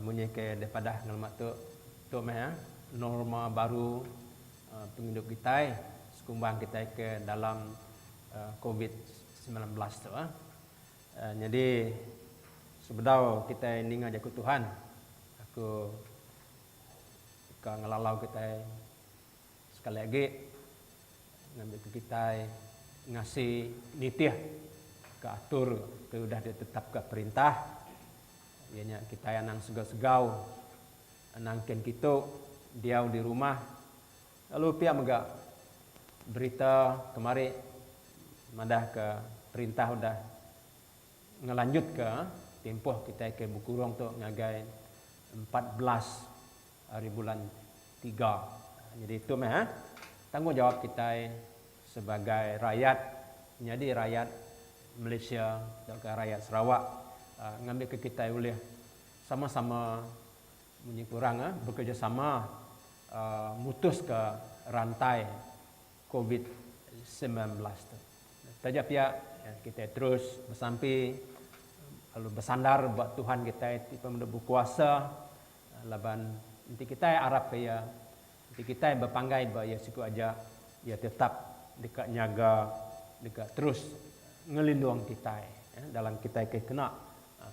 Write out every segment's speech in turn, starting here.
Munyi ke dipadah ngelama tu, tu meh norma baru pengidup kitai sekumbang kitai ke dalam covid semilan belas tu. Nyadi sebedau kitai ninga jaku Tuhan, aku ka ngelalau kitai Sekali agi ngambika kitai ngasi nitih ka atur ti udah ditetapka perintah iya nya kitai anang segau-segau anang kin kitu diau di rumah lalu pia mega berita kemari madahka perintah udah ngelanjutka timpuh kitai ke bekurung tu ngagai empat belas. Ari bulan tiga. Nyadi tu meh tanggungjawap kitai sebagai rayat nyadi rayat Malaysia tauka rayat Sarawak ngambika kitai ulih sama-sama munyi ku orang bekerjasama mutuska rantai Covid semilan belas tu. Taja pia kitai terus besampi lalu besandar ba Tuhan kitai ti penemu bekuasa. Laban enti kitai arapka iya, enti kitai bepanggai ba iya siku aja, iya tetap deka nyaga, deka terus ngelindung kitai dalam kitai ke kena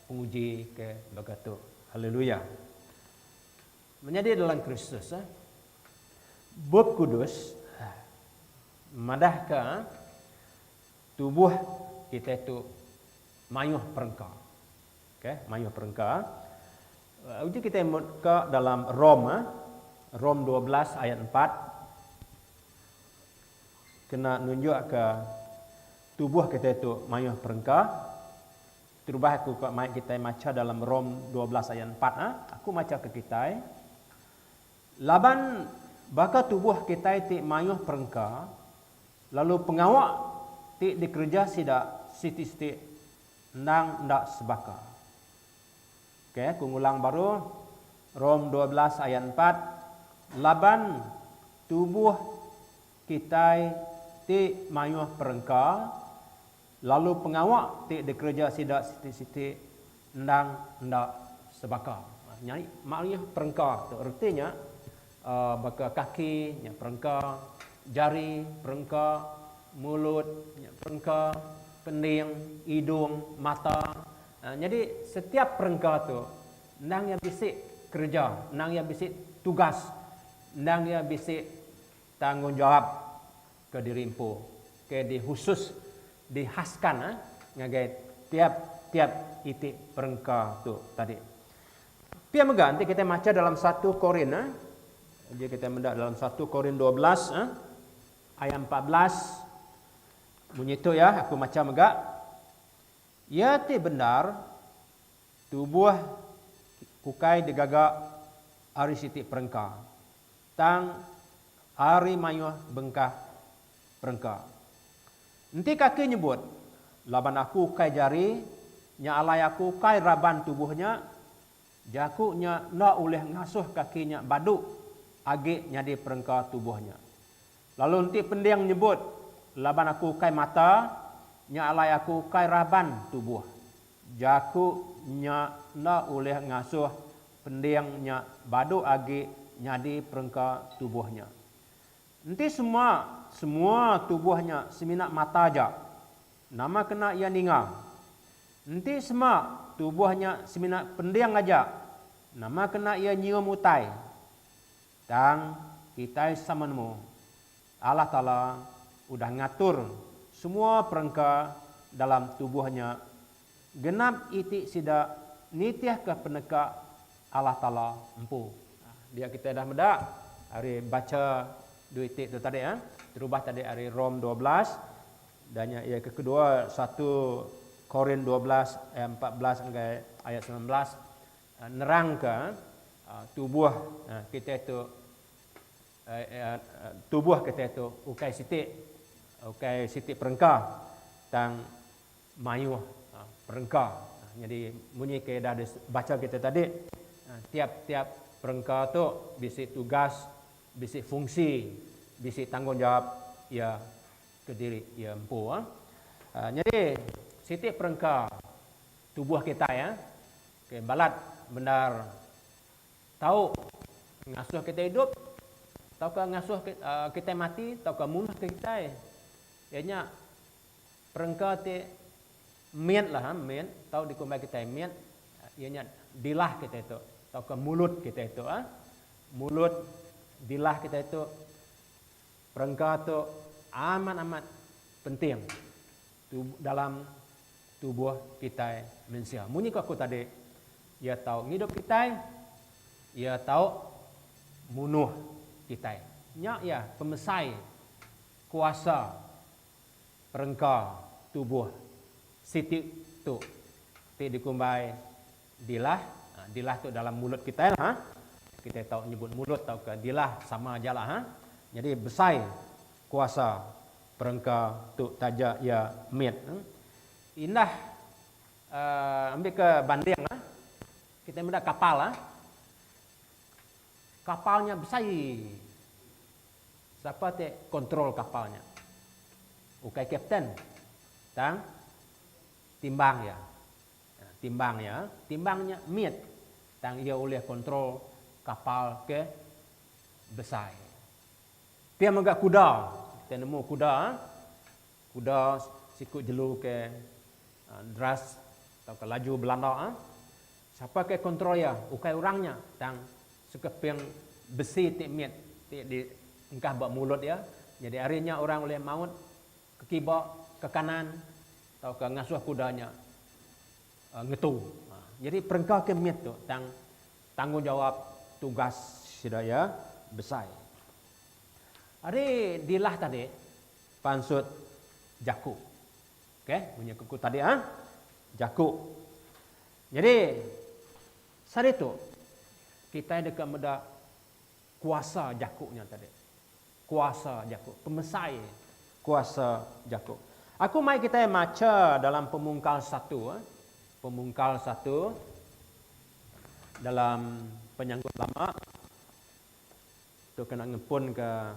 penguji ke baka tu. Haleluya! Menyadi dalam Kristus, Bup Kudus madahka. Tubuh kitai tu mayuh perengka. Ke mayuh perengka. Uji kitai mut ka dalam Rom. Rom dua belas ayat empat kena nunjuk ka tubuh kitai tu mayuh perengka. Terubah aku ka mai kitai macha dalam Rom dua belas ayat empat. Aku macha ka kitai. Laban baka tubuh kitai ti mayuh perengka. Lalu pengawa ti dikereja sida siti-siti endang enda sebaka. Ok, aku ngulang baru, Rom dua belas ayat empat, Laban tubuh kitai ti mayuh perengka, Lalu pengawa ti dikereja sida siti-siti endang enda sebaka. Nyadi mariah perengka tu reti nya baka kaki nya perengka, jari perengka, mulut nya perengka, kending, idung, mata. Nyadi setiap perengka tu endang iya bisi kereja, endang iya bisi tugas, endang iya bisi Tanggungjawab ke diri empu ke dihusus dihaskan ngagai tiap-tiap iti perengka tu tadi. Pia mega enti kitai macha dalam satu Korin, uji kitai meda dalam satu Korin dua belas ayat empat belas munyi tu iya aku macha mega, Iya ti bendar tubuh ukai digaga ari siti perengka. Tang ari mayuh bengkah perengka. Enti kaki nyebut, laban aku ukai jari nya alai aku ukai raban tubuh nya, jaku nya enda ulih ngasuh kaki nya badu agi nyadi perengka tubuh nya. Lalu enti pending nyebut, Laban aku ukai mata, nya alai aku ukai raban tubuh. Jaku nya enda ulih ngasuh pending nya badu agi nyadi perengka tubuh nya. Enti sema semua tubuh nya semina mata aja, nama kena iya ninga? Enti sema tubuh nya semina pending aja, nama kena iya nyium utai? Tang, kitai sama nemu, Allah Taala udah ngatur semua perengka dalam tubuh nya genap iti sida nitihka peneka Allah Taala empu. Dia kitai dah meda ari bacha dua iti tu tadi eh, terubah tadi ari Rom dua belas, da nya iya ke kedua satu Korin dua belas ayat empat belas ngagai ayat semilan belas. Nerangka tubuh kitai tu tubuh kitai tu ukai siti ukai siti perengka tang mayuh perengka nyadi munyi ke dah dibacha kitai tadi tiap-tiap perengka tu bisi tugas bisi fungsi bisi tanggungjawap iya kediri iya empu nyadi siti perengka tubuh kitai Ke balat bendar tau ngasuh kitai idup tauka ngasuh kitai mati tauka munuhka kitai. Iya nya perengka ti mit lah ha mit tau dikumbai kitai mit iya nya dilah kitai tu tauka mulut kitai tu ha. Mulut dilah kitai tu perengka tu amat amat penting. Tu dalam tubuh kitai mensia. Munyi ko aku tadi, iya tau ngidup kitai, iya tau munuh kitai. Nya iya pemesai kuasa perengka tubuh siti tu ti dikumbai Dilah, dilah tu dalam mulut kitai lah ha. Kitai tau nyebut mulut tauka dilah sama aja lah ha. Nyadi besai kuasa perengka tu taja iya mit. Indah ambika banding lah kitai meda kapal ha. Kapal nya besai sapa ti control kapal nya. Ukai captain tang timbang iya. Timbang iya, timbang nya mit tang iya ulih kontrol kapal ke besai. Pia mega kuda, kita nemu kuda, kuda siku jelu ke deras tauka laju belanda, sapa ke kontrol iya ukai orang nya tang sekeping besi ti mit ti diengkah ba mulut iya, nyadi ari nya orang ulih maut Ke kiba, ke kanan tauka ngasuh kuda nya ngetu. Nyadi perengka ke mit tu tang tanggungjawap tugas sida iya besai. Ari dilah tadi pansut jaku. Ok, munyi ke ku tadi ah, jaku. Nyadi saritu kitai deka meda. Kuasa jaku nya tadi. Kuasa jaku. Pemesai kuasa jaku. Aku mai kitai macha dalam pemungkal satu. Pemungkal satu dalam penyangkut lama. Tu kena ngempunka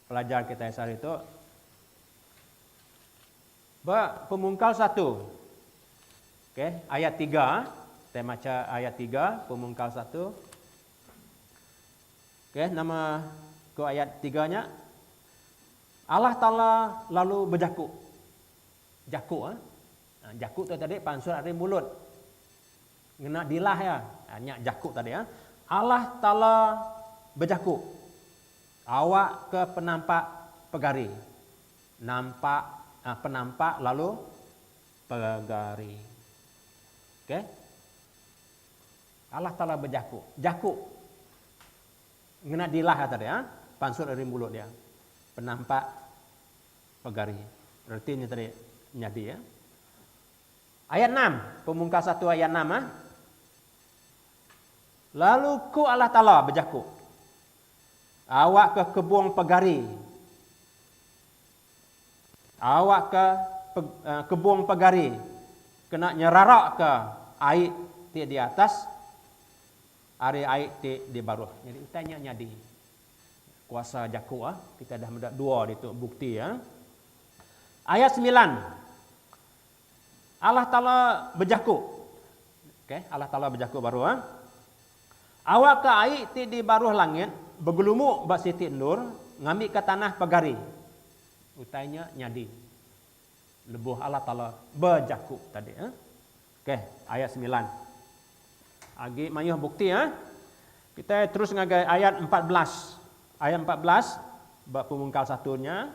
pelajar kitai sehari tu. Ba pemungkal satu. Okay. Ayat tiga. Kitai macha ayat tiga. Pemungkal satu. Okey, nama ku ayat tiga nya? Allah Taala lalu bejaku. Jaku eh. Ha, jaku tu tadi pansut ari mulut. Ngena dilah iya. Ha, nya jaku tadi eh. Allah Taala bejaku. Awak ke penampak pegari. Nampak ha, penampak lalu pegari. Okey. Allah Taala bejaku, Jaku! Ngena dilah ata dia, pansut ari mulut dia, penampak pegari. Reti nya tadi nyadi ya. Ayat enam, pemungkas satu ayat enam ah. Lalu ku Allah Taala bejaku, Awakka kebung pegari. Awakka kebung pegari kena nyerarakka ai ti di atas ari ai ti di baruh. Nyadi utai nya nyadi kuasa jaku. Kitai dah meda dua ditu bukti. Ayat semilan. Allah Taala bejaku. Okay, Allah Taala bejaku baru. Eh. Awakka ai ti di baruh langit begelumu ba siti endur ngambika tanah pegari. Utai nya nyadi lebuh Allah Taala bejaku tadi. Eh. Okay, ayat semilan. Agi mayuh bukti. Eh. Kita terus ngagai ayat empat belas. Ayat empat belas ba pemungkal satu nya.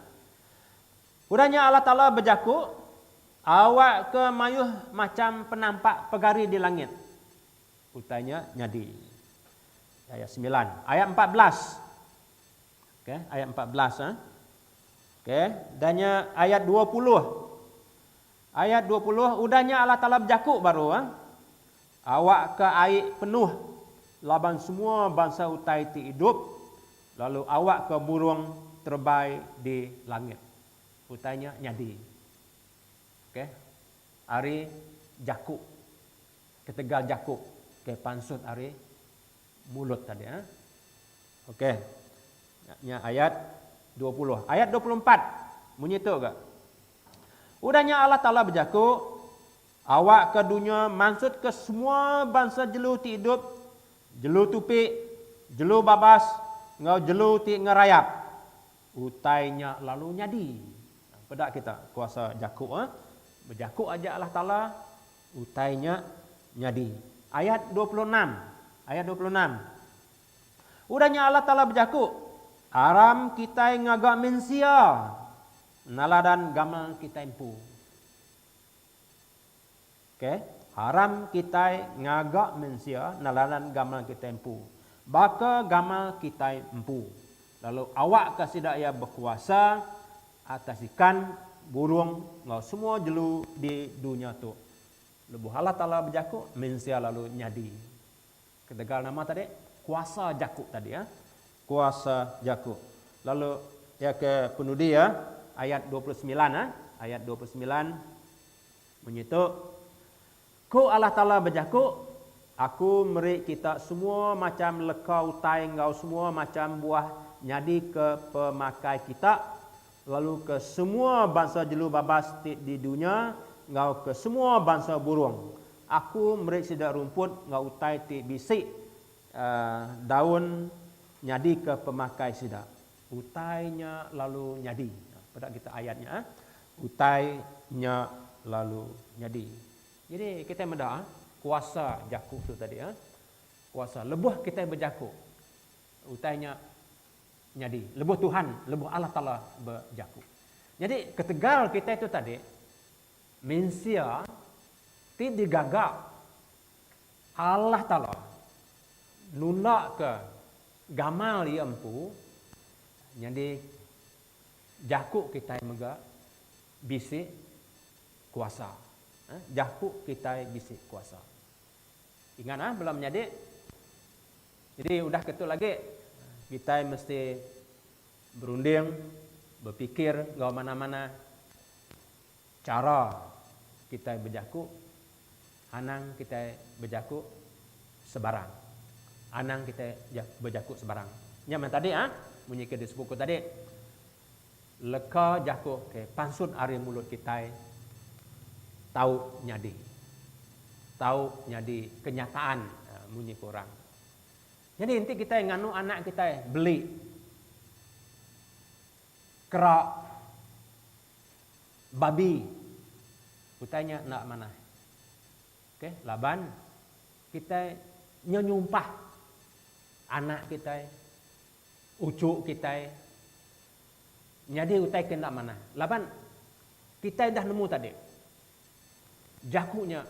Udah nya Allah Taala bejaku, Awakka mayuh macham penampak pegari di langit. Utai nya nyadi. Ayat semilan. Ayat empat belas. Okay, ayat empat belas. Ha? Okay, dan nya ayat dua puluh. Ayat dua puluh, udah nya Allah Taala bejaku baru. Ha? Awakka ai penuh laban semua bansa utai ti idup, lalu awakka burung terebai di langit. Utai nya nyadi. Okay. Ari jaku. Ketegal jaku ke pansut ari mulut tadi. Eh. Okay. Nya ayat dua puluh. Ayat dua puluh empat. Munyi tu ga. Udah nya Allah Taala bejaku. Awak ke dunya mansutka semua bansa jelu ti idup, jelu tupi, jelu babas enggau jelu ti ngerayap. Utai nya lalu nyadi. Peda kita kuasa jaku eh, Bejaku aja Allah Taala, utai nya nyadi. Ayat dua puluh enam, ayat dua puluh enam. Udah nya Allah Taala bejaku, Aram kitai ngaga mensia, naladan gamal kitai empu. Ok, haram kitai ngaga mensia neladan gamal kitai empu. Baka gamal kitai empu. Lalu awakka sida iya bekuasa atas ikan, burung enggau semua jelu di dunya tu. Lebuh Allah Taala bejaku, mensia lalu nyadi. Ketegal nama tadi? Kuasa jaku tadi ya. Kuasa jaku. Lalu iya ke penudi ya ayat dua puluh semilan ya. Ayat dua puluh semilan munyi tu. Ku Allah Taala bejaku, Aku meri kita semua macam leka utai enggau semua macam buah nyadika pemakai kita, lalu ke semua bansa jelu babas ti di dunya enggau ke semua bansa burung, Aku meri sida rumput enggau utai ti bisi daun nyadika pemakai sida. Utai nya lalu nyadi. Peda kita ayat nya. Utai nya lalu nyadi. Jadi kitai meda kuasa jaku tu tadi. Kuasa lebuh kitai bejaku, utai nya Nyadi, lebuh Tuhan, lebuh Allah Taala bejaku. Nyadi, ketegal kitai tu tadi, mensia ti digaga Allah Taala nulakka gamal Iya empu, nyadi jaku kitai mega bisi kuasa. Jaku kitai bisi kuasa. Ingat ah, bala menyadi. Jadi udah ke tu agi, kitai mesti berunding, bepikir enggau manah-manah chara kitai bejaku, anang kitai bejaku sebarang. Anang kitai bejaku sebarang. Nya meh tadi ah, munyi ke disebut ku tadi. Leka jaku ke pansut ari mulut kitai tau nyadi. Tau nyadi kenyataan munyi ke orang. Nyadi enti kitai nganu anak kitai beli kera babi utai nya enda manah. Okey laban kitai nyenyumpah anak kitai. Uchu kitai nyadi utai ke enda manah laban kitai udah nemu tadi Jaku nya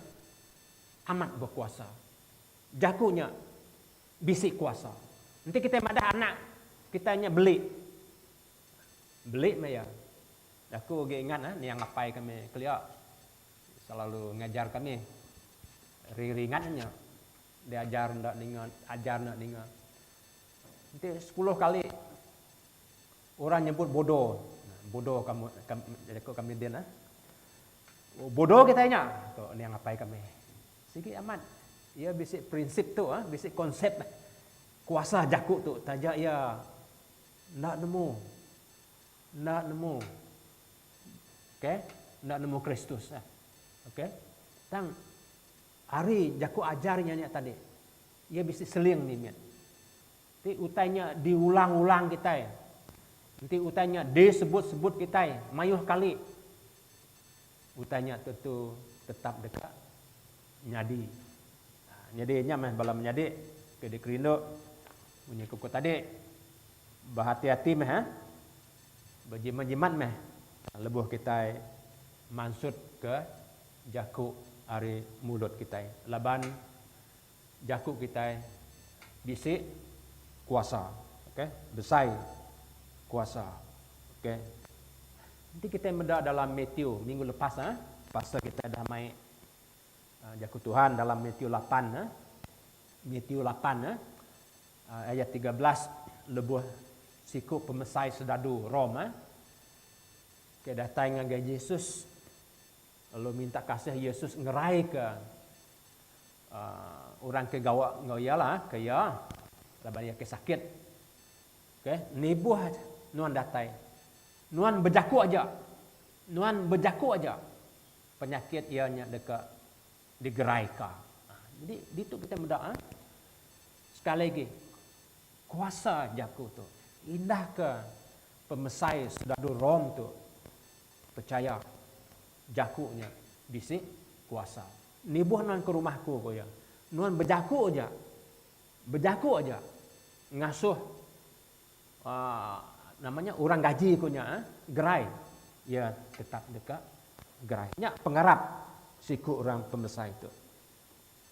amat bekuasa. Jaku nya bisi kuasa. Enti kitai madah anak kitai nya beli, beli meh iya. Aku agi ingat eh niang apai kami kelia selalu ngajar kami ringat nya diajar enda ninga ajar enda ninga. Enti sepuluh kali orang nyebut bodo, bodo kamu jaku kami din ah. Bodo kitai nya tu niang apai kami. Sigi amat iya bisi prinsip tu ah, bisi konsep kuasa jaku tu taja iya enda nemu enda nemu okay enda nemu Kristus ah. Okay. Tang ari jaku ajar inya nya tadi Iya bisi seling limit. Ti utai nya diulang-ulang kitai. Enti utai nya disebut-sebut kitai mayuh kali, utai nya tentu tetap deka nyadi. Nyadi nya meh bala menyadi ke dikerindu munyi ku ku tadi, behati-hati meh, bejimat-jimat meh lebuh kitai mansutka jaku ari mulut kitai laban. Jaku kitai bisi kuasa ok besai kuasa ok enti kitai meda dalam Matthew minggu lepas ah pasal kitai dah mai jaku Tuhan dalam Matthew lapan ah Matthew lapan ah ayat tiga belas lebuh siku pemesai sedadu Rome ah ke datai ngagai Jesus. Lalu minta kasih Yesus ngeraika orang ke gawa enggau iya lah ke iya laban iya ke sakit. Okey, nibuh nuan datai. Nuan bejaku aja. Nuan bejaku aja. Penyakit iya nya deka digeraika. Jadi ditu kita meda sekali agi kuasa jaku tu. Indahka pemesai soldadu Rome tu. Pechaya, jaku nya bisi kuasa. Nibuh nuan ke rumah aku, ku iya, nuan bejaku aja, bejaku aja ngasuh aaa nama nya orang gaji aku nya eh, gerai. Iya tetap deka gerai. Nya pengarap siku orang pemesai tu.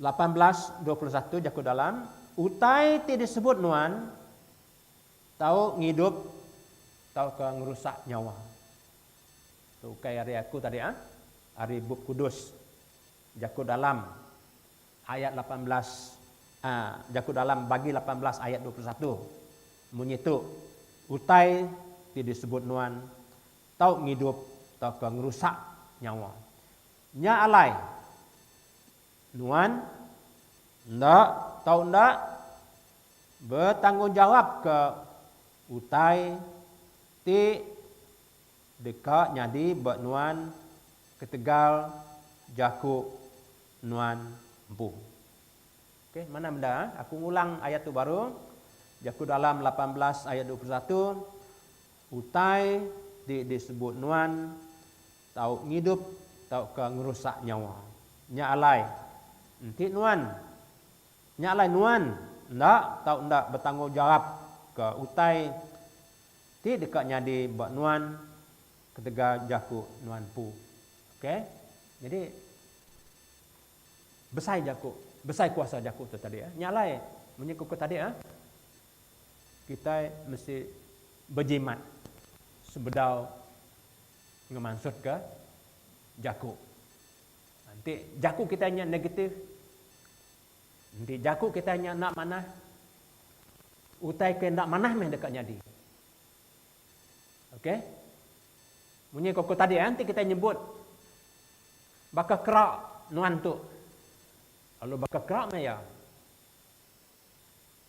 Lapan belas dua puluh satu jaku dalam utai ti disebut nuan tau ngidup tauka ngerusak nyawa. Tu ukai ari aku tadi ah, ari Bup Kudus. Jaku dalam ayat lapan belas ah jaku dalam bagi lapan belas ayat dua puluh satu munyi tu, utai ti disebut nuan tau ngidup tauka ngerusak nyawa. Nya alai. Nuan enda tau enda betanggungjawapka utai ti deka nyadi ba nuan ketegal jaku nuan empu. Okey, manah meda. Aku ngulang ayat tu baru. Jaku Dalam lapan belas ayat dua puluh satu, Utai ti disebut nuan Tau ngidup tauka ngerusak nyawa. Nya alai. Enti nuan. Nya alai nuan enda tau enda betanggungjawapka utai ti deka nyadi ba nuan ketegal jaku nuan empu. Ok. Nyadi besai jaku, besai kuasa jaku tu tadi. Nya alai munyi ku tadi kitai mesti bejimat sebedau Ngemansutka jaku. Enti jaku kitai nya negatif, enti jaku kitai nya enda manah, utai ke enda manah meh deka nyadi. Okey. Munyi ke ku tadi eh, enti kitai nyebut baka kerak nuan tu, lalu baka kerak maya.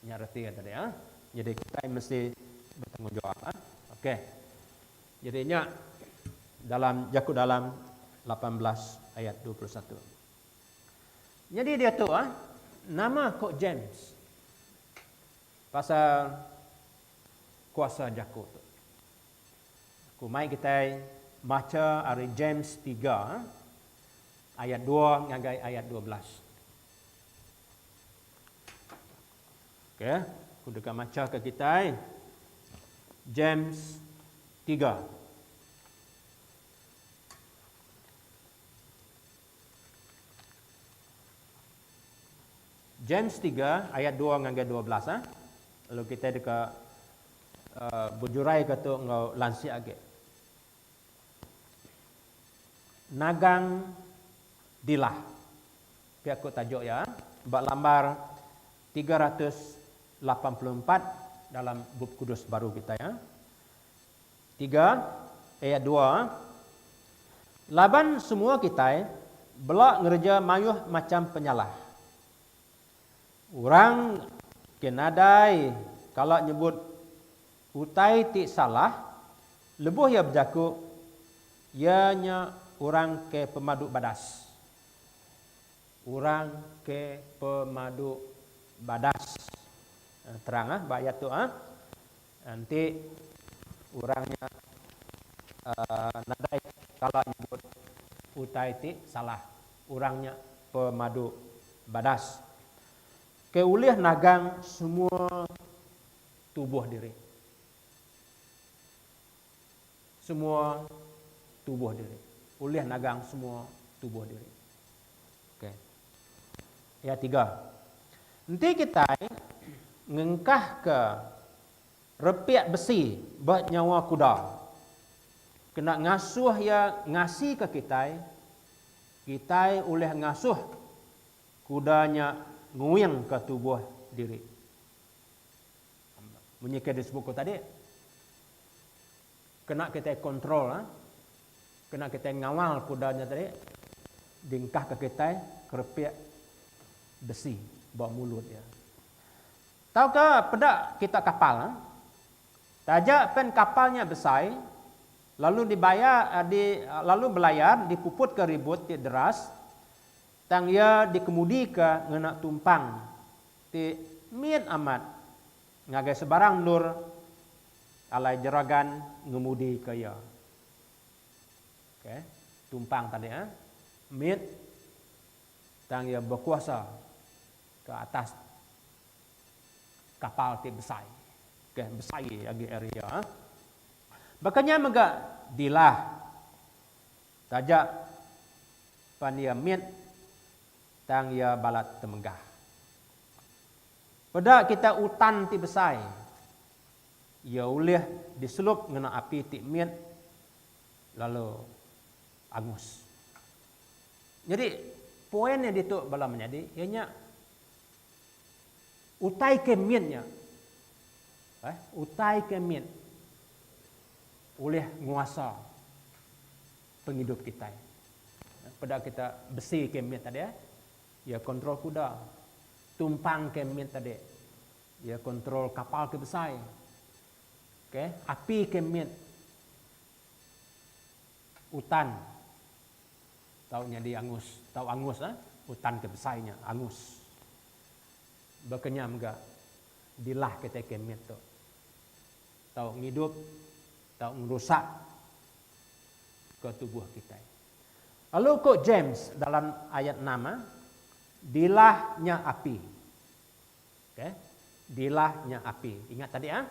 Nya reti iya tadi ah. Jadi kitai mesti betanggungjawab ah. Okey. Jadi nya dalam Jaku Dalam lapan belas ayat dua puluh satu. Nyadi diatu ah nama ko James pasal kuasa jaku tu. Ku mai kitai macha ari James tiga ah, ayat dua ngagai ayat dua belas. Okey, aku deka machaka kitai James tiga. James tiga ayat dua ngagai dua belas. Ha? Lalu kitai deka uh, bejuraika tu enggau lansia agi. Nagang Dilah. Pia ku tajuk iya ba lambar tiga ratus lapan puluh empat dalam Bup Kudus baru kitai. Tiga, ayat dua, Laban semua kitai bela ngereja mayuh macham penyalah. Orang ke nadai kala nyebut. Utai ti salah, lebuh iya bejaku iya nya orang ke pemadu badas. Orang ke pemadu badas. Terang ah ba ayat tu ah. Enti orang nya uhh nadai kala nyebut utai ti salah, orang nya pemadu badas. Ke ulih nagang semua tubuh diri. Semua tubuh diri. Ulih nagang semua tubuh diri. Okey. Ya tiga. Enti kitai ngengkahka repik besi ba nyawa kuda kena ngasuh iya ngasika kitai, kitai ulih ngasuh kuda nya nguingka tubuh diri. Munyi ke disebut ku tadi kena kitai control ha kena kitai ngawal kuda nya tadi dingkah ke kitai kerepik besi ba mulut iya. Tauka peda kita kapal ha taja pen kapal nya besai lalu dibaya di lalu belayar dipuputka ribut ti deras tang iya dikemudika ngena tumpang Ti mit amat ngagai sebarang endur alai jeragan ngemudika iya. Ok. Tumpang tadi ah. Mit tang iya bekuasa ke atas kapal ti besai. Ok. Besai agi ari iya ah. Baka nya mega dilah. Taja pan iya mit. Tang iya balat temenggah. Peda kitai utan ti besai, iya ulih diselup ngena api ti mit lalu angus. Nyadi, poin nya ditu bala menyadi iya nya utai ke mit nya eh utai ke mit ulih nguasa. pengidup kitai. Peda kita besi ke mit tadi iya kontrol kuda, tumpang ke mit tadi iya kontrol kapal ke besai, ok api ke mit utan tau nyadi angus tau angus lah utan ke besai nya angus. Baka nya mega dilah kitai ke mit tu. tau ngidup tau ngerusak ke tubuh kitai. Lalu ko James dalam ayat enam, dilah nya api. Okay. Dilah nya api. Ingat tadi ah.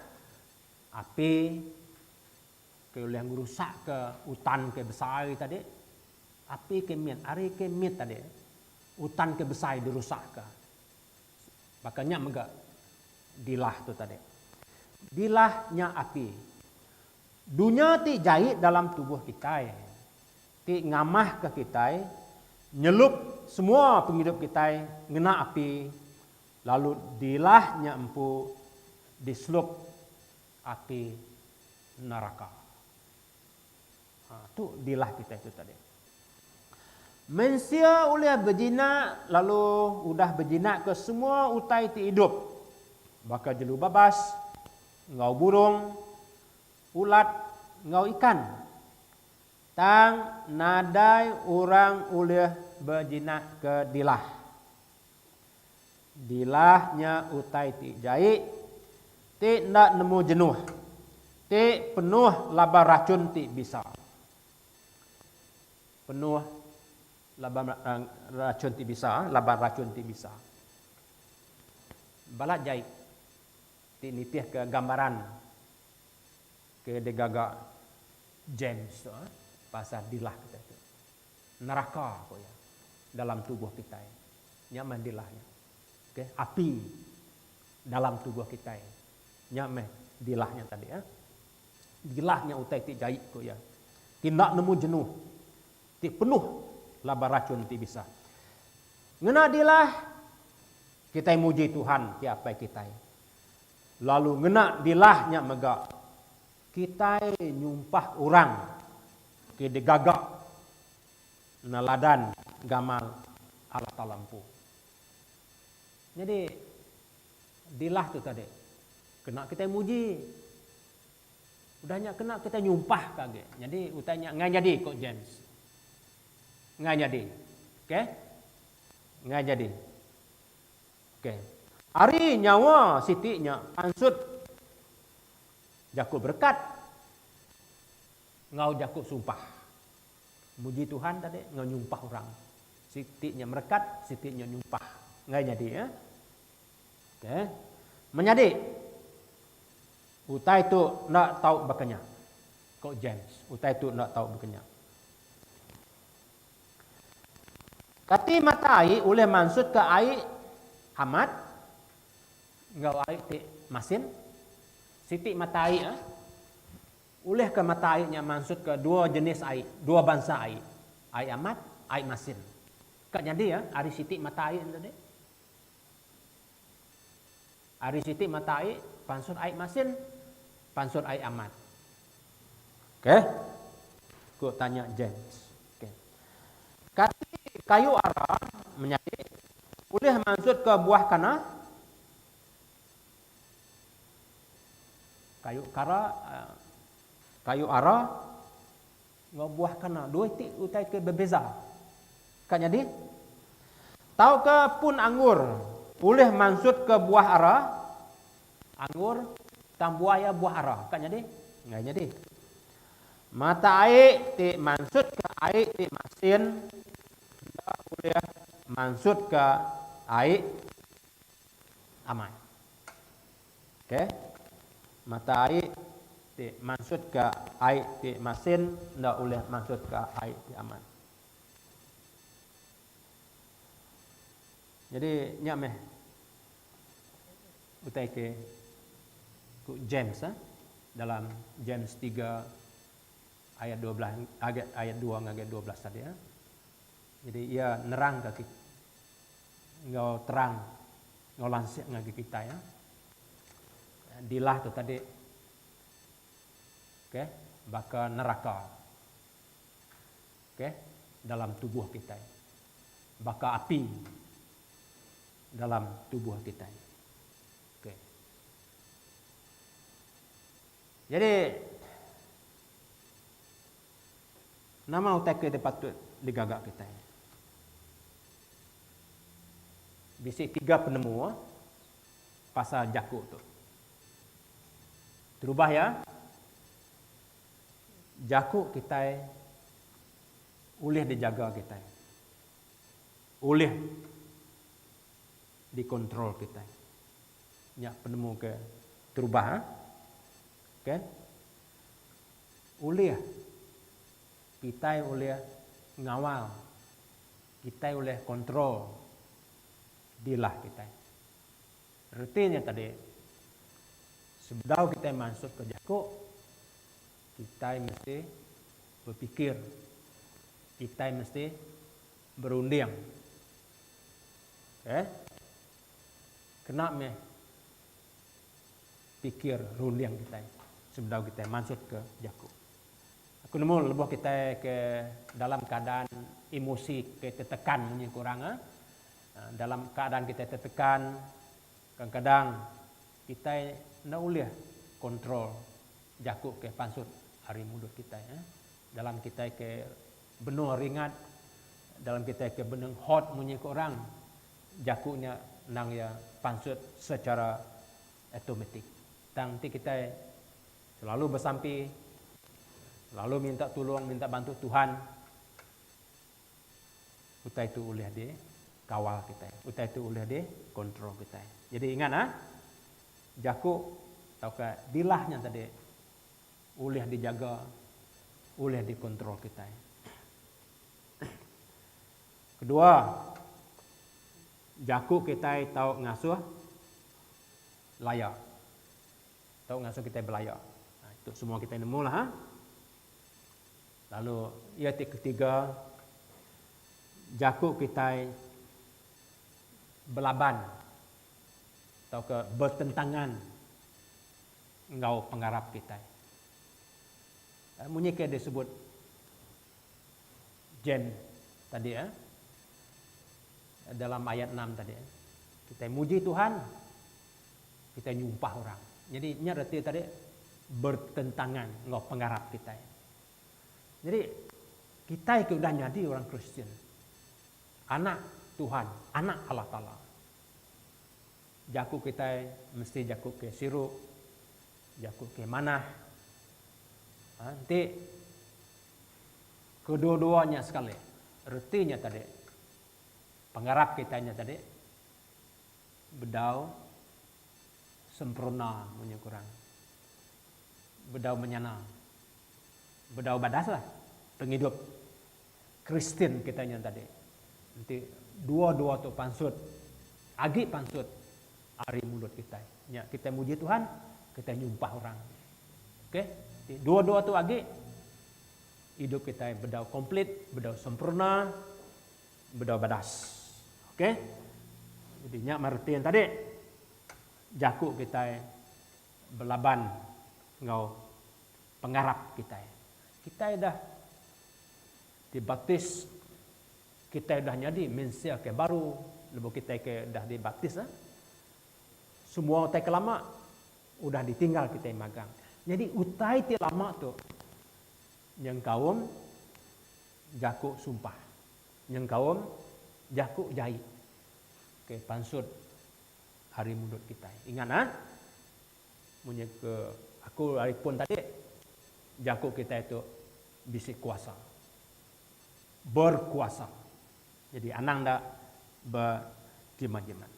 Api ke ulih ngerusak ke utan ke besai tadi. Api ke mit, ari ke mit tadi. Utan ke besai dirusak ke. Baka nya mega dilah tu tadi. Dilah nya api. Dunya ti jai dalam tubuh kitai ti ngamahka kitai nyelup semua pengidup kitai ngena api lalu dilah nya empu diselup api neraka. Ha, tu dilah kitai tu tadi. Mensia ulih bejinak lalu udah bejinakka semua utai ti idup, baka jelu babas enggau burung, ulat enggau ikan. Tang nadai orang ulih bejinakka dilah. Dilah nya utai ti jai, ti enda nemu jenuh, ti penuh laban rachun ti bisa. Penuh laban rachun ti bisa, laban rachun ti bisa. Balat jai ti nitihka gambaran ke digaga James tu pasal dilah kitai tu. Neraka, ku iya, dalam tubuh kitai. Nya meh dilah nya. Okey, api dalam tubuh kitai. Nya meh dilah nya tadi. Dilah nya utai ti jai, ku iya. Ti enda nemu jenu. Ti penuh laban rachun ti bisa. Ngena dilah, kitai muji Tuhan ti Apai kitai. Lalu ngena dilah nya mega. Kitai nyumpah orang ke digaga neladan gamal Allah Taala empu. Nyadi dilah tu tadi kena kitai muji. Udah nya kena kitai nyumpah ka agi. Nyadi utai nya enggai nyadi ko James. Enggai nyadi. Ok. Enggai nyadi. Ok. Ari nyawa siti nya pansut Jaku berekat enggau jaku sumpah. Muji Tuhan tadi enggau nyumpah orang. Siti nya merekat, siti nya nyumpah. Enggai nyadi ya. Okey. Menyadi utai tu enda tau baka nya. Ko James, utai tu enda tau baka nya. Kati mata ai ulih mansutka ai amat? Enggau ai ti masin siti mata ai a ulih ka mata ai nya mansut ka dua jenis ai dua bansa ai ai amat ai masin ka nyadi a ari siti mata ai nya tadi ari siti mata ai pansut ai masin pansut ai amat Okey. Ku tanya James. Okey. Kati kayu ara menyadi ulih mansutka buah kana? Kayu kara, kayu ara Enggau buah kana dua iti utai ke bebeza. Ka nyadi? Tauka pun anggur ulih mansutka buah ara? Anggur tang buah iya buah ara. Ka nyadi? Enggai nyadi. Mata ai ti mansutka ai ti masin enda ulih mansutka ai amai. K, Mata ai ti mansutka ai ti masin enda ulih mansutka ai ti aman. Nyadi nya meh utai ke ku James eh dalam James tiga ayat dua belas ayat dua ngagai dua belas tadi eh. Nyadi iya nerangka kita. enggau terang enggau lansik ngagai kitai ya. Dilah tu tadi okay, baka neraka okay, dalam tubuh kitai. Baka api dalam tubuh kitai. Okay. Jadi, Nama utai ke dipatut digaga kitai? Bisi tiga penemu pasal jaku tu. Terubah iya, jaku kitai ulih dijaga kitai, ulih dikontrol kitai. Nya penemu ke terubah. Okey. Ulih kitai ulih ngawal, kitai ulih kontrol dilah kitai. Reti nya tadi, sebedau kitai mansut ke jaku, kitai mesti bepikir, kitai mesti berunding. Okey. Kena meh pikir runding kitai sebedau kitai mansutka jaku. Aku nemu lebuh kitai ke dalam keadaan emosi ke tetekan munyi ku orang eh, dalam keadaan kitai tetekan, kadang-kadang kitai enda ulih control jaku ke pansut ari mulut kitai eh. Dalam kitai ke benung ringat, dalam kitai ke benung hot munyi ku orang, Jaku nya endang iya pansut sechara automatik. Tang enti kitai selalu besampi, selalu minta tulung, minta bantu Tuhan, utai tu ulih dikawal kitai, utai tu ulih dikontrol kitai. Jadi ingat ah, jaku tauka dilah nya tadi ulih dijaga, ulih dikontrol kitai. Kedua, jaku kitai tau ngasuh laya. Tau ngasuh kitai belaya. Ha, itu semua kitai nemu lah. Ha? Lalu, ia ti ketiga, jaku kitai belaban atau ke bertentangan enggau pengarap kitai. Eh, munyi ke disebut Jen tadi eh dalam ayat enam tadi eh kitai muji Tuhan kitai nyumpah orang jadi nya reti tadi bertentangan enggau pengarap kitai jadi kitai ke udah nyadi orang Kristian anak Tuhan anak Allah taala jaku kitai mesti jaku ke siru Jaku ke manah. Ha, enti kedua-dua nya sekali, reti nya tadi, pengarap kitai nya tadi bedau sempurna munyi ku orang, bedau menyana, bedau badaslah pengidup Kristian kitai nya tadi enti dua-dua tu pansut agi pansut ari mulut kitai nya kitai muji Tuhan kitai nyumpah orang agi okay enti dua-dua tu agi idup kitai bedau komplit bedau sempurna bedau badas okay jadi nya mari reti tadi jaku kitai belaban enggau pengarap kitai kitai dah Dibaptis, kitai udah nyadi mensia ke baru lebuh kitai ke udah dibaptis nya. Semua utai ke lama udah ditinggal kitai magang. Nyadi utai ti lama tu nyengkaum jaku sumpah, nyengkaum jaku jai ke pansut ari mulut kitai. Ingat ah, munyi ke aku ari pun tadi, jaku kitai tu. Bisi kuasa. Berkuasa. Jadi anang da berjimat-jimat.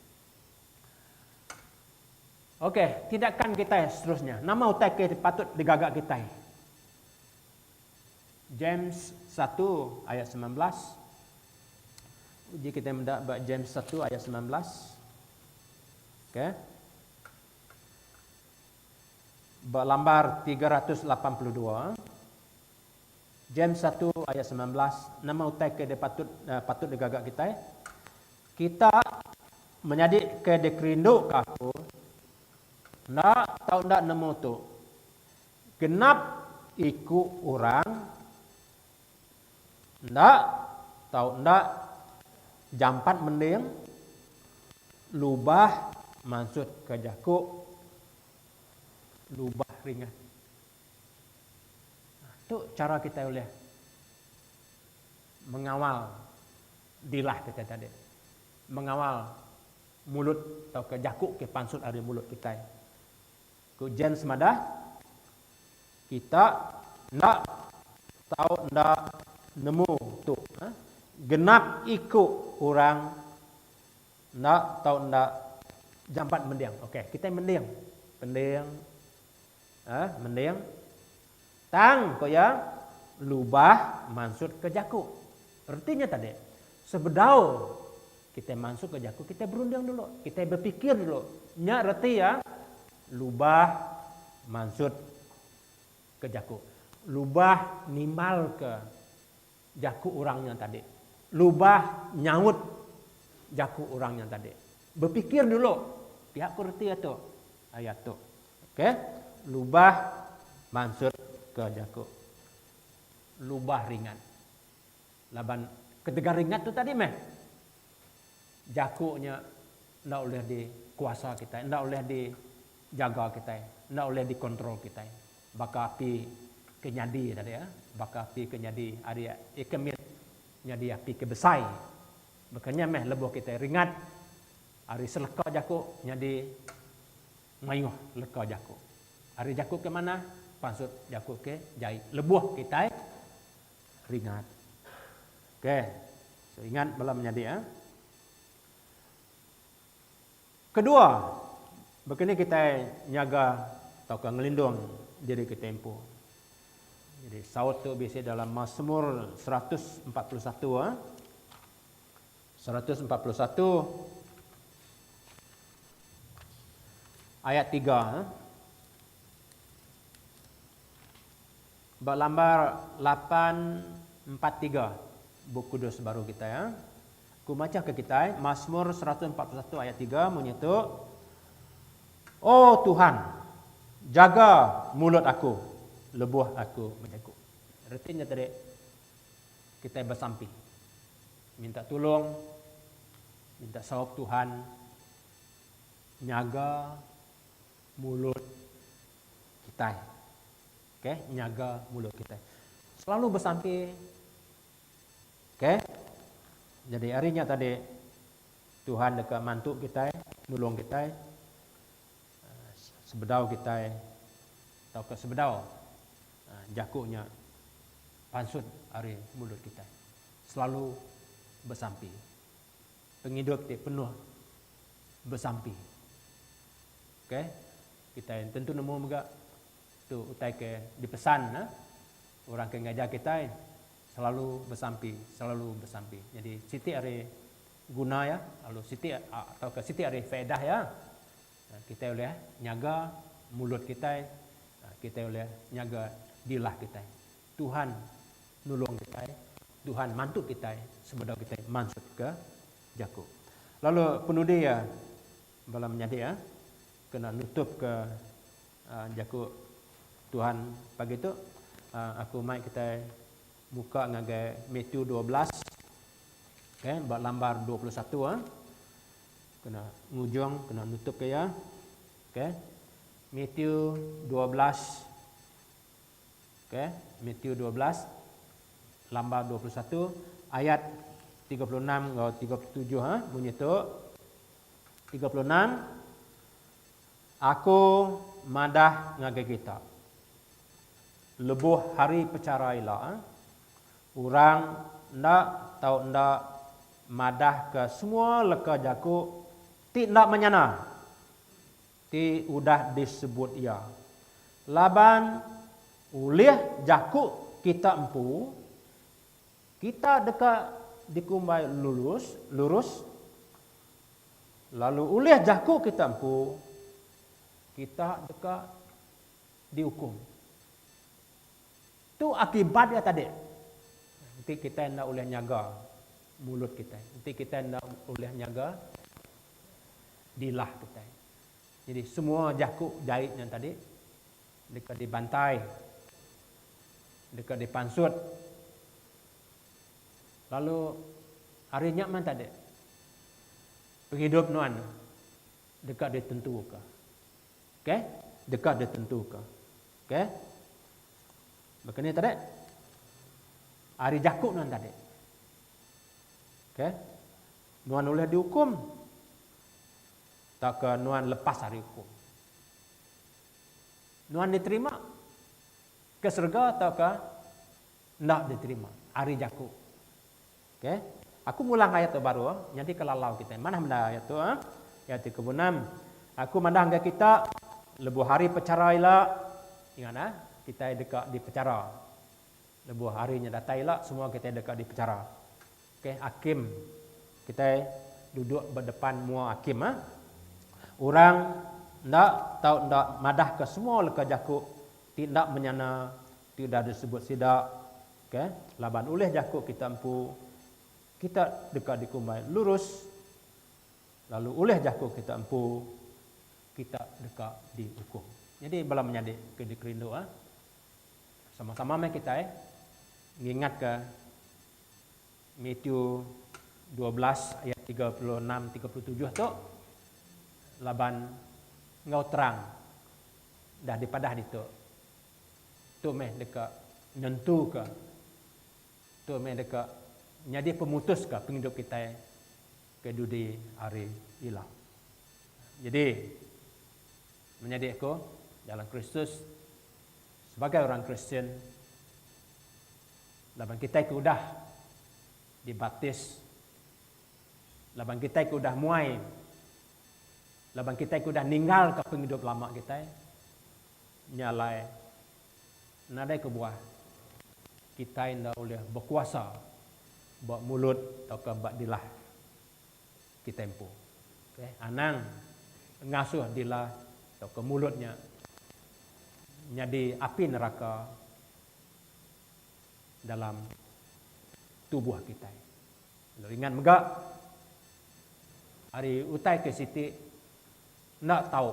Ok, tindakan kitai seterusnya. Nama utai ke patut digaga kitai? James satu ayat semilan belas. Uji kitai meda ba James satu ayat semilan belas. Ok. Ba lambar tiga ratus lapan puluh dua, James satu ayat semilan belas, nama utai ke dipatut patut digaga kitai? Kita menyadi ke dikerinduka aku enda tau enda nemu tu, genap iku orang. Enda tau enda jampat mending lubah mansut ke jaku lubah ringat. Tu chara kitai ulih mengawal dilah kitai tadi, mengawal mulut tauka jaku ke pansut ari mulut kitai. Ku James madah, Kita enda tau enda nemu tu. Genap iku orang enda tau enda jampat mending. Okey, kitai mending. Mending. Mending. Tang, ku iya, lubah mansutka jaku. Reti nya tadi, sebedau kitai mansutka jaku, kitai berunding dulu, kitai bepikir dulu. Nya reti iya, lubah mansutka jaku. Lubah nimbalka. Jaku orang nya tadi. Lubah nyaut jaku orang nya tadi. Bepikir dulu. Pia ku reti iya tu. Ayat tu. Ok. Lubah mansut ke jaku. Lubah ringat. Laban ketegal ringat tu tadi meh. Jaku nya enda ulih dikuasa kitai. Enda ulih dijaga kitai. Enda ulih dikontrol kitai. Baka api ke nyadi tadi eh, baka api ke nyadi ari ikan mit nyadi api ke besai. Baka nya meh lebuh kitai ringat ari seleka jaku nyadi mayuh leka jaku. Ari jaku ke manah pansut jaku ke jai lebuh kitai ringat. Okey. So ingat bala menyadi eh. Kedua, baka ni kitai nyaga tauka ngelindung diri kitai empu. Jadi saut tu bisi dalam Masmur seratus empat puluh satu. Seratus empat puluh satu ayat tiga. Ba lambar lapan empat tiga Bup Kudus baru kitai. Ku machahka kitai Masmur seratus empat puluh satu ayat tiga munyi tu, O Tuhan, jaga mulut aku lebuh aku bejaku. Reti nya tadi kitai besampi, minta tulung, minta saup Tuhan nyaga mulut kitai. Okay, nyaga mulut kitai. Selalu besampi. Okay. Jadi ari nya tadi Tuhan deka mantu kitai, nulung kitai sebedau kitai tauka sebedau jaku nya pansut ari mulut kitai. Selalu besampi. Pengidup ti penuh besampi. Okay. Kitai tentu nemu mega tu utai ke dipesan Orang ke ngajar kitai selalu besampi, selalu besampi. Nyadi siti ari guna iya lalu siti tauka siti ari faedah iya kitai ulih nyaga mulut kitai, kitai ulih nyaga dilah kitai. Tuhan nulung kitai, Tuhan mantu kitai sebedau kitai mansutka jaku. Lalu penudi iya bala menyadi iya kena nutupka. Jaku Tuhan pagi tu, aku mai kitai muka ngagai Matthew dua belas, okay, ba lambar dua puluh satu, kena ngujung, kena nutup ke iya, okay, Matthew dua belas, okay, Matthew dua belas, lambar dua puluh satu, ayat tiga puluh enam enggau tiga puluh tujuh, munyi tu, tiga puluh enam. Aku madah ngagai kita, lebuh hari pechara ila, orang enda tau enda madahka semua leka jaku ti enda menyana ti udah disebut iya. Laban ulih jaku kita empu, kita deka dikumbai lulus, lurus, Lalu ulih jaku kita empu, kita deka diukum. Tu akibat iya tadi. Enti kitai enda ulih nyaga mulut kitai, enti kitai enda ulih nyaga dilah kitai. Jadi semua jaku jai nya tadi deka dibantai, deka dipansut. Lalu ari nya man tadi pengidup nuan deka ditentuka. Okay. Deka ditentuka. Okay. Baka ni tadi. Ari jaku nuan tadi. Okay. Nuan ulih diukum tauka nuan lepas ari ukum. Nuan diterima ke serega tauka Enda diterima ari jaku. Ok. Aku ngulang ayat tu baru nyadi kelalau kitai. Manah menda ayat tu. Ayat ti kepuluh enam. Aku mandah enggai kita lebuh hari pechara ila. Ingat nah, kitai deka dipechara. Lebuh hari nya datai ila, semua kitai deka dipechara. Ok, akim. Kitai duduk ba depan mua akim. Orang enda tau enda madahka semua leka jaku ti enda menyana Ti udah disebut sida, okay, laban ulih jaku kita empu, kita deka dikumbai lurus, lalu ulih jaku kita empu, kita deka diukum. Nyadi bala menyadi ke dikerindu, ah, sama-sama meh kitai ngingatka Matthew dua belas ayat tiga puluh enam tiga puluh tujuh tu, laban enggau terang dah dipadah ditu. Tu meh deka nentuka, tu meh deka nyadi pemutuska pengidup kitai ke dudi hari ila. Nyadi, menyadi aku dalam Kristus, sebagai orang Kristian, laban kitai ke udah dibaptis, laban kitai ke udah muai, laban kitai ke udah ninggalka pengidup lama kitai, Nya alai, nadai kebuah kitai enda ulih bekuasa ba mulut tauka ba dilah kitai empu. Okey, anang ngasuh dilah tauka mulut nya nyadi api neraka dalam tubuh kitai. Lalu ingat mega, ari utai ke siti enda tau.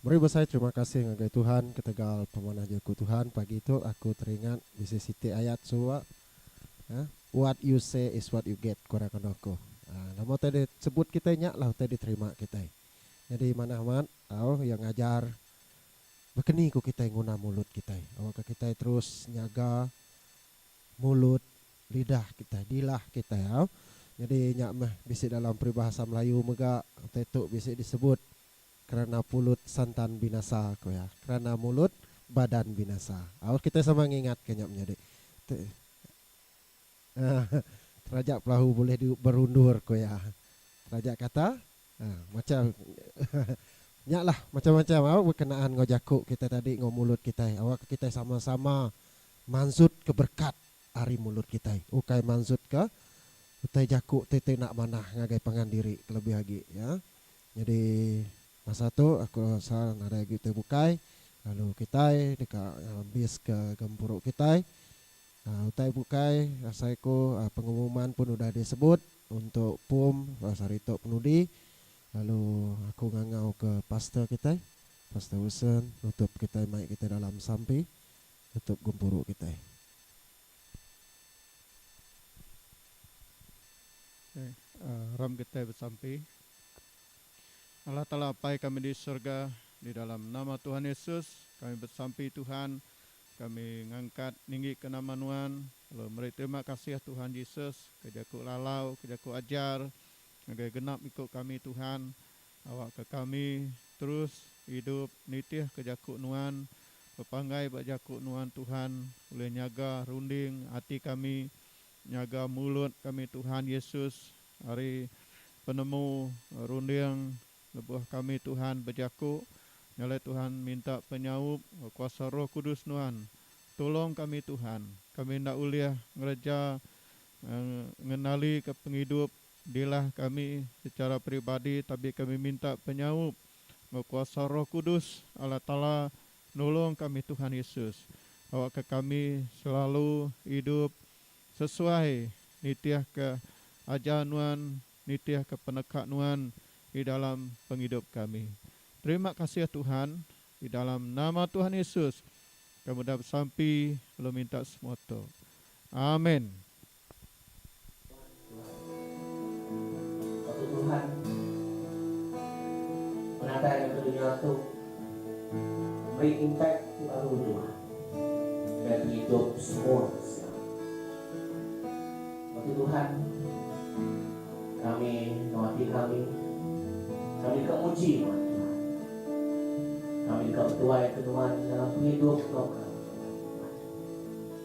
Meri besai terima kasih ngagai Tuhan ketegal pemanah Jaku Tuhan pagi tu aku teringat bisi siti ayat suba uhh what you say is what you get ku orang andu aku uhh nama utai di sebut kitai nya lah utai diterima kitai nyadi manah amat tau iya ngajar bekeni ku kitai nguna mulut kitai awakka kitai terus nyaga mulut lidah kitai dilah kitai au nyadi nya meh bisi dalam peribahasa melayu mega utai tu bisi disebut. Kerana pulut santan binasa, ku iya. Kerana mulut, badan binasa. Au, kitai sama ngingatka nya menyadi. Tu, ah, teraja pelahu bulih diu berundur, ku iya. Teraja kata, ah, macam, nyalah, macam-macam au bekenaan enggau jaku kitai tadi enggau mulut kitai. Awakka kitai sama-sama mansutka berekat ari mulut kitai, ukai mansutka utai jaku ti enda manah ngagai pangan diri kelebih agi, ya. Nyadi masa tu aku rasa nadai agi tu bukai lalu kitai deka ngambiska gempuru kitai. Utai bukai asai ku pengumuman pun udah disebut untuk pum pas hari tu penudi lalu aku ngangau ke pastor kitai Pastor Wilson nutup kitai mai kitai dalam sampi nutup gempuru kitai. Ram kitai besampi. Allah Taala Apai kami di surga, di dalam nama Tuhan Yesus kami besampi Tuhan, kami ngangkat ninggika nama Nuan lalu meri terima kasih Tuhan Yesus ke jaku lalau ke jaku ajar ngagai genap iku kami Tuhan, awakka kami terus idup nitihka jaku Nuan, bepanggai ba jaku Nuan Tuhan ulih nyaga runding ati kami, nyaga mulut kami Tuhan Yesus Ari penemu runding lebuh kami Tuhan bejaku, nyalai Tuhan minta penyaup kuasa Roh Kudus Nuan. Tulong kami Tuhan, kami enda ulih ngereja ngenalika pengidup dilah kami secara peribadi tabi kami minta penyaup enggau kuasa Roh Kudus Allah Taala nulong kami Tuhan Yesus awakka kami selalu idup Sesuai nitihka ajar nuan, nitihka peneka nuan di dalam pengidup kami. Terima kasih Tuhan, di dalam nama Tuhan Yesus kami udah besampi lalu minta semua tu. Amin. Aku Tuhan, penatai ari baka dunya tu, meri impact ti baru jua ngagai pengidup semua sida. Aku Tuhan, kami enggau ati kami, kami deka muji Nuan Tuhan. Kami deka betuai ke Nuan dalam pengidup enggau kami, Tuhan.